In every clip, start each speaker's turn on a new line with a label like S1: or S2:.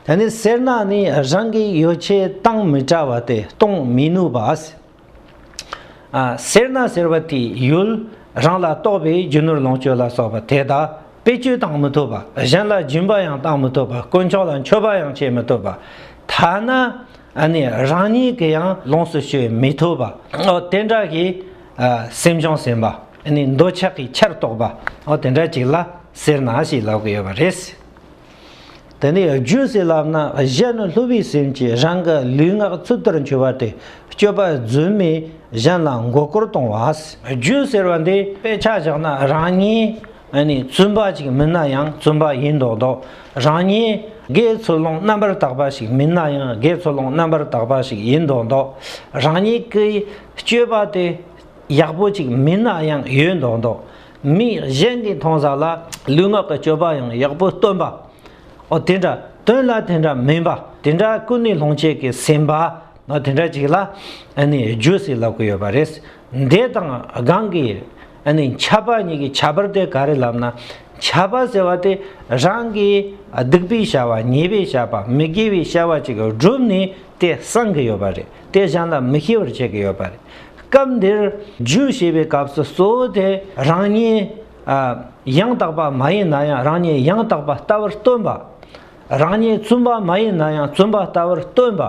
S1: ད་ནི་སེར་ནག་ནི་རང་གི་ཡོ་བྱད་གཏང་མི་བྲ་བ་སྟེ་གཏོང་མི་ནུས་པ། སེར་ནག་ཟེར་བ་དེའི་ཡུལ་རང་ལ་གཏོགས་པའི་རྒྱུ་ནོར་ལོངས་སྤྱོད་ལ་སོགས་པ་དེ་དག་དཔེ་བཅོས་གཏང་མི་ཐུབ་པ་གཞན་ལ་སྦྱིན་པ་ཡང་གཏང་མི་ཐུབ་པ་དཀོན་མཆོག་ལ་མཆོད་པ་ཡང་བྱེད་མི་ཐུབ་པ་ཐ་ན་ནི་རང་ཉིད་ཀྱི་ཡང་ལོངས་སུ་སྤྱོད་མི་ཐུབ་པ་འོ་དེ་འདྲ་གི་སེམས་བྱུང་ཟིན་པ་ནི་འདོད་ཆགས་ཀྱི་ཆར་གཏོགས་པ་འོ་དེ་འདྲ་ཅིག་ལ་སེར་ནག་ཞེས་ལབ་ཀྱི་ཡོད་པ་རེད། དེ་ནས་རྒྱུད་སྲིད་ལམ་ན་གཞན་ནི་ལྷུ་བའི་སེམས་ཀྱིས་རང་གི་ལུས་ངག་ཚུལ་ལྟར་འཆོས་པ་སྟེ་སྤྱོད་པ་རྫུན་མས་གཞན་ལ་མགོ་སྐོར་གཏོང་བ། རྒྱུད་ཟེར་བ་འདི་དཔེ་ཆ་བཞག་ན་རང་ཉིད་ནི་བཙུན་པ་ཅིག་མིན་ན་ཡང་བཙུན་པ་ཡིན་མདོག་མདོག་རང་ཉིད་དགེ་ཚུལ་སློང་རྣམ་པར་དག་པ་ཞིག་མིན་ན་ཡང་དགེ་ཚུལ་སློང་རྣམ་པར་དག་པ་ཞིག་ཡིན་མདོག་མདོག་རང་ཉིད་ཀྱི་སྤྱོད་པ་དེ་ཡག་པོ་ཅིག་མིན་ན་ཡང་ཡོད་མདོག་མདོག། མི་གཞན་གྱི་མཐོང་ས་ལ་ལུས་ངག་གི་སྤྱོད་པ་ཡང་ཡག་པོ་སྟོན་པ། ཨོ་དེ་འདྲ་དོན་ལ་དེ་འདྲ་མིན་པ་དེ་འདྲ་ཀུན་ནས་ལྷུང་བྱེད་ཀྱི་སེམས་པ་ནོ་དེ་འདྲ་ཅིག་ལ་རྗོད་སྲིད་ལབ་ཀྱི་ཡོད་པ་རེད། འདས་དང་སྒང་གི་འཆལ་པ་གཉིས་ཀྱི་ཁྱད་པར་དེ་ག་རེ་ལབ་ན། འཆལ་པ་ཟེར་བ་དེ་རང་གི་སྡིག་པའི་བྱ་བ་ཉེས་པའི་བྱ་བ་མི་དགེ་བའི་བྱ་བ་ཅིག་བསྒྲུབས་ནས་དེ་གསང་གི་ཡོད་པ་རེད། དེ་གཞན་ལ་མི་ཤེས་པར་བྱེད་ཀྱི་ཡོད་པ་རེད། སྐབས་འདིར་རྒྱུད་ཞེས་པའི་སྐབས་སུ་གཙོ་བོ་དེ་རང་ཉིད་ཡང་དག་པ་མ་ཡིན་ན་ཡང་རང་ཉིད་ཡང་དག་པ་ལྟ་བུར་སྟོན་པ། རང་ཉིད་བཙུན་པ་མ་ཡིན་ན་ཡང་བཙུན་པ་ལྟ་བུར་སྟོན་པ།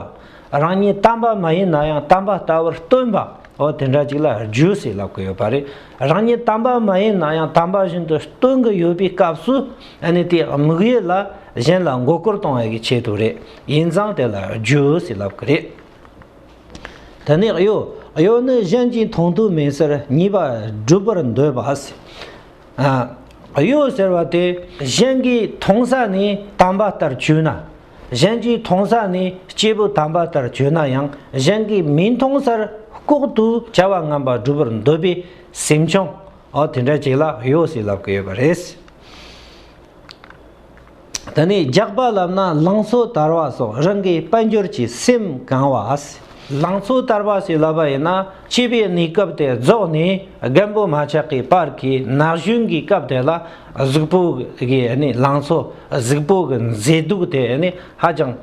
S1: རང་ཉིད་དམ་པ་མ་ཡིན་ན་ཡང་དམ་པ་ལྟ་བུར་སྟོན་པ། འོ་དེ་འདྲ་ཅིག་ལ་རྒྱུད་ཞེས་ལབ་ཀྱི་ཡོད་པ་རེད། རང་ཉིད་དམ་པ་མ་ཡིན་ན་ཡང་དམ་པ་བཞིན་དུ་སྟོན་གྱི་ཡོད་པའི་སྐབས་སུ། དེའི་དམིགས་ཡུལ་ལ་གཞན་ལ་མགོ་སྐོར་གཏོང་བའི་ཆེད་དུ་རེད། ཡིན་ཙང་དེ་ལ་རྒྱུའོ་ཟེར་ལབ་ཀི་རེད། དེ་ནས་གཡོ། གཡོ་ནི་གཞན་གྱིས་མཐོང་ཐོས་མེད་སར་གཉིས་པ་བསྒྲུབ་པར་འདོད་པ། གཡོ་ཟེར་བ་དེ་གཞན་གྱིས་མཐོང་ས་ནི་དམ་པ་ལྟར་གྱུར་ན། གཞན་གྱིས་མཐོང་ས་ནི་སྐྱེས་བུ་དམ་པ་ལྟར་གྱུར་ན་ཡང་གཞན་གྱིས་མི་མཐོང་སར་ལྐོག་ཏུ་བྱ་བ་ངན་པ་བསྒྲུབ་པར་འདོད་པའི་སེམས་བྱུང། དེ་འདྲ་ཅིག་ལ་གཡོ་ཟེར་ལབ་ཀི་ཡོད་པ་རེད། དེ་ནས་རྒྱགས་པ་ལབ་ན་ལང་ཚོ་དར་བ་སོགས་རང་གི་དཔལ་འབྱོར་གྱི་སེམས་གང་བ་ཨཱ། ལང་ཚོ་དར་བ་ཞིག་ལབ་པ་ཡིན་ན་སྤྱི་པའི་གནས་སྐབས་དེ་རྫོགས་ནས་རྒན་པོ་མ་ཆགས་ཀྱི་བར་གྱི་ན་གཞོན་གྱི་སྐབས་དེ་ལ་གཟུགས་པོ་གི་ལང་ཚོ་གཟུགས་པོ་གི་མཛེས་སྡུག་དེ་ཧ་ཅང་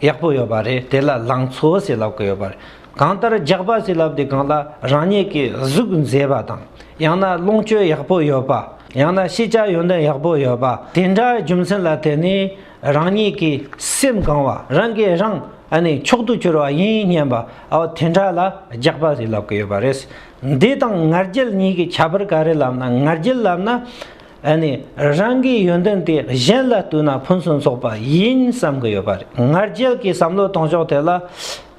S1: ཡག་པོ་ཡོད་པ་རེད་དེ་ལ་ལང་ཚོ་ཞེས་ལབ་ཀྱི་ཡོད་པ་རེད། གང་ལྟར་རྒྱགས་པ་ཞིག་ལབ་དེ་གང་ལ་རང་ཉིད་ཀྱི་གཟུགས་མཛེས་པ་དང་ཡང་ན་ལོངས་སྤྱོད་ཡག་པོ་ཡོད་པ་ཡང་ན་ཤེས་བྱ་ཡོན་ཏན་ཡག་པོ་ཡོད་པ་དེ་འདྲ་རྒྱུ་མཚན་ལ་བརྟེན་ནས་རང་ཉིད་ཀྱི་སེམས་གང་བ་རང་གིས་རང་མཆོག་ཏུ་གྱུར་བ་ཡིན་སྙམ་པ་དེ་འདྲ་ལ་རྒྱགས་པ་ཞིག་ལབ་ཀྱི་ཡོད་པ་རེད། འདི་དང་ངར་རྒྱལ་གཉིས་ཀྱི་ཁྱད་པར་ག་རེ་ལབ་ན་ངར་རྒྱལ་ལབ་ན། ཨ་ནི་རང་གི་ཡོན་ཏན་དེ་གཞན་ལ་བསྟུན་ན་ཕུན་སུམ་ཚོགས་པ་ཡིན་བསམ་གི་ཡོད་པ་རེད་ང་རྒྱལ་གྱི་བསམ་བློ་གཏོང་ཕྱོགས་དེ་ལ་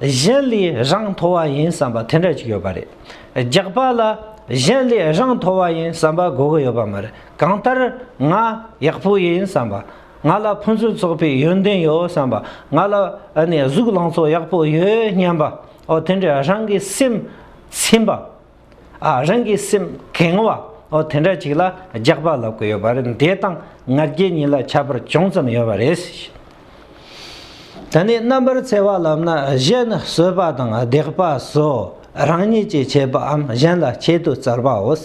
S1: གཞན་ལས་རང་མཐོ་བ་ཡིན་བསམ་པ་དེ་འདྲ་ཅིག་ཡོད་པ་རེད་རྒྱག་པ་ལ་གཞན་ལས་རང་མཐོ་བ་ཡིན་བསམ་པ་དགོས་གི་ཡོད་པ་མ་རེད་གང་ལྟར་ང་ཡག་པོ་ཡིན་བསམ་པ་ང་ལ་ཕུན་སུམ་ཚོགས་པའི་ཡོན་ཏན་ཡོད་བསམ་པ་ང་ལ་ཨ་ནི་གཟུགས་ལང་ཚོ་ཡག་པོ་ཡོད་སྙམ་པའོ་དེ་འདྲའི་རང་གི་སེམས་ཚིམ་པ། ཨ་རང་གི་སེམས་ཁེངས་བ་འོ་དེ་འདྲ་ཅིག་ལ་རྒྱགས་པ་ལབ་གི་ཡོད་པ་རེད་འདས་དང་ང་རྒྱལ་གཉིས་ལ་ཁྱད་པར་ཅུང་ཙམ་ཡོད་པ་རེད། ད་ནི་རྣམ་པར་འཚེ་བ་ལབ་ན་གཞན་ནི་གསོད་པ་དང་བརྡེག་པ་སོགས་རང་ཉིད་ཀྱིས་བྱས་པའམ་གཞན་ལ་བྱེད་དུ་བཙར་བའོ།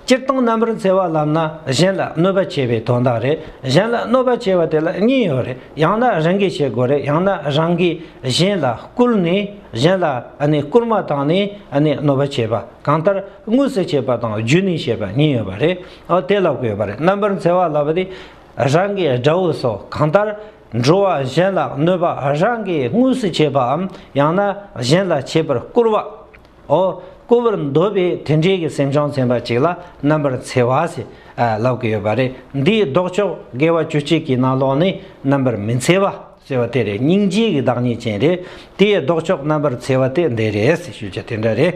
S1: སྤྱིར་བཏང་རྣམ་པར་འཚེ་བ་ལམ་ན་གཞན་ལ་གནོད་པ་བྱེད་པའི་དོན་དག་རེད་གཞན་ལ་གནོད་པ་བྱེད་པ་དེ་ལ་གཉིས་ཡོད་རེད་ཡང་ན་རང་གིས་བྱེད་དགོས་རེད་ཡང་ན་རང་གིས་གཞན་ལ་བསྐུལ་ནས་གཞན་ལ་བསྐུར་མ་བཏང་ནས་གནོད་པ་བྱེད་པ་གང་ལྟར་དངོས་སུ་བྱེད་པ་དང་བརྒྱུད་ནས་བྱེད་པ་གཉིས་ཡོད་པ་རེད་དེ་ལ་དགོས་པ་རེད་རྣམ་པར་འཚེ་བ་ལབ་པ་དེ་རང་གི་དགྲ་བོ་སོགས་གང་ལྟར་འགྲོ་བ་གཞན་ལ་གནོད་པ་རང་གིས་དངོས་སུ་བྱེད་པའམ་ཡང་ན་གཞན་ལ་བྱེད་པར་བསྐུར་བ་ཨོ། བསྐུར་བར་འདོད་པའི་དེ་འདྲའི་གི་སེམས་བྱང་ཚན་པ་ཅིག་ལ་རྣམ་པར་འཚེ་བ་ཞེས་ལབ་ཀི་ཡོད་པ་རེད་འདིའི་ལྡོག་ཕྱོགས་དགེ་བ་བཅུ་གཅིག་གི་ནང་ལོགས་ནི་རྣམ་པར་མི་འཚེ་བ་ཟེར་བ་དེ་རེད་སྙིང་རྗེའི་གི་བདག་ཉིད་ཅན་རེད་དེའི་ལྡོག་ཕྱོགས་རྣམ་པར་འཚེ་བ་དེ་འདི་རེད་ཞེས་ཞུ་རྒྱུ་དེ་འདྲ་རེད།